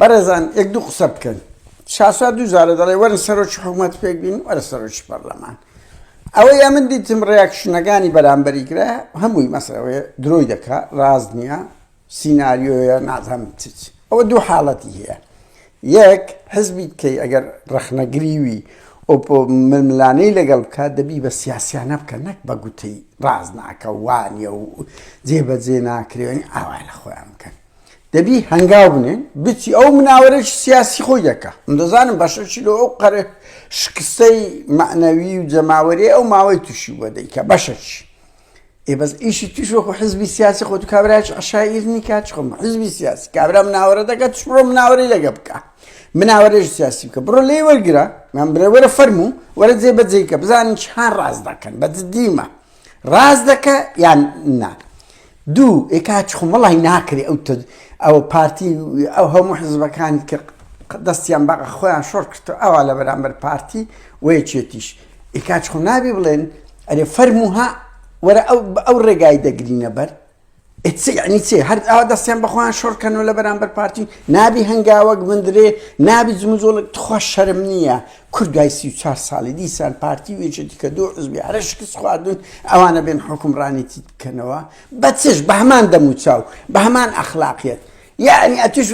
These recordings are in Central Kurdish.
بەڕێزان یەک دوو قسە بکەن شاسوار دوو جارە دەڵێ وەرە سەرۆکی حکوومەت پێک بین وەرە سەرۆکی پەرلەمان ئەوە یا من دیتم ڕێکشنەکانی بەرامبەری گرە هەمووی مەسەوەێ درۆی دەکات ڕاز نییە سینناریۆیە نازەم چچ ئەوە دوو حاڵەتی هەیە یەک حزبی کەی ئەگەر ڕەخنەگریوی ئۆپۆ ململانەی لەگەڵ بکات دەبی بە سیاسیانە بکە نەک بە گوتەی ڕاز ناکە وانە و جێبەجێ ناکرێنی ئاوای لە خۆیان بکەن دەبی هەنگاو بنێن بچی ئەو مناوەرێکی سیاسی خۆی دەکە من دەزانم بەشەشی لۆ ئەو قەرە شکستەی معنەوی و جەماوەری ئەو ماوەی تووشی بە دەیکە بەشەشی ئێ بەس ئیشی توش وەکو حزبی سیاسی خۆت کابراچ عشایر نیکات خۆم حزبی سیاسی کابرا مناوەرە دەکات توش بڕۆ مناوەری لەگە بکە مناوەرێژ سیاسی بکە بڕۆ لێ وەرگرە من برێ وەرە فەرموو وەرە جێ بەجێکە بزانین چ هەر ڕاست دەکەن بە دیمە ڕاست دەکە یان نا دوو ئێکاچ خۆم وڵی ناکرێ ئەو ئەو پارتی ئەو هەموو حزبەکانی کە دەستیان بە خۆیان شۆر کرد ئەوە لە بەرامبەر پارتی وەیەکێتیش ئێکاچ خۆ نابێ بڵێن ئەرێ فەرموها وەرە ئەو ڕێگای دەگرینە بەر ئیتس یعنی چێ هەر ئاوا دەستیان بەخۆیان شۆڕ کەنەوە لە بەرامبەر پارتی نابی هەنگاوەک بندرێ نابی جموجۆڵک تخوا شەرم نییە کورد دوای سی و چوار ساڵی دیسان پارتی وێژێتی کە دوو حزبی هەرە شکست خواردون ئەوانە بێن حکومڕانێتی بکەنەوە بە چێش بە هەمان دەموچاو بە هەمان ئەخلاقیت یەعنی ئەتووش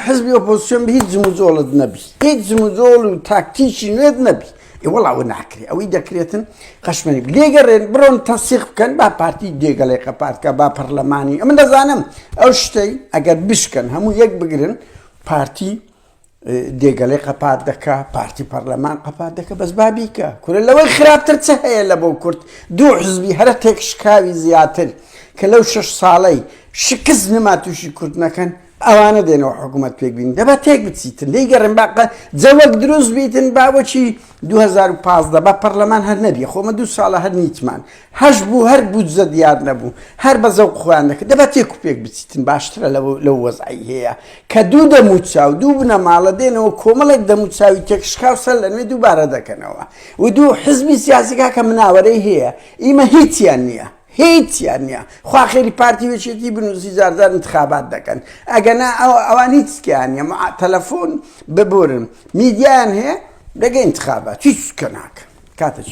حزبی ئۆپۆزسیۆن بە هیچ جموجۆڵت نەبی هیچ جموجۆڵ و تاکتیکی نوێت نەبی ئێوەڵاوە ناکرێ ئەوەی دەکرێتن قەشمەنی لێگەڕێن بڕۆن تەسیق بکەن با پارتی دێگەڵێکە پارتکە با پەرلەمانی ئەمە دەزانم ئەو شتەی ئەگەر بشکەن هەموو یەک بگرن پارتی دێگەلەی قەپات دەکا پارتی پەرلەمان قەپات دەکە بەس بابیکە کورە لەوەی خراپتر چ هەیە لە بۆ کورد دوو حزبی هەرە تێک شکاوی زیاتر کە لەو شش ساڵەی شکست نما تووشی کورد نەکەن ئەوانە دێنەوە حکوومەت پێک بین دەبا تێک بچیتن دەی گەڕم باقە جەوەک دروست بیتن باوەچی 2015 بە پەرلەمان هەر نەبی خۆمە دوو ساڵە هەر نیتمان هەش بوو هەر بودجە دیار نەبوو هەر بە زەوق خۆیان دەکرد دەبا تێک و پێک بچیتن باشترە لەو وەزعەی هەیە کە دوو دەموچاو دوو بنەماڵە دێنەوە کۆمەڵێک دەموچاوی تێکشکاو سەر لە نوێ دووبارە دەکەنەوە و دوو حزبی سیاسی کاکە مناوەرەی هەیە ئیمە هیچیان نییە هیچیان نییە خوا خێری پارتی وێشێتی بنووسی زارزار انتخابات دەکەن ئەگەنا ئەوان هیچکیان نیە تەلەفۆن ببورن میدیان هەیە دەگە انتخابات هیچ کە ناکەن کاتە چ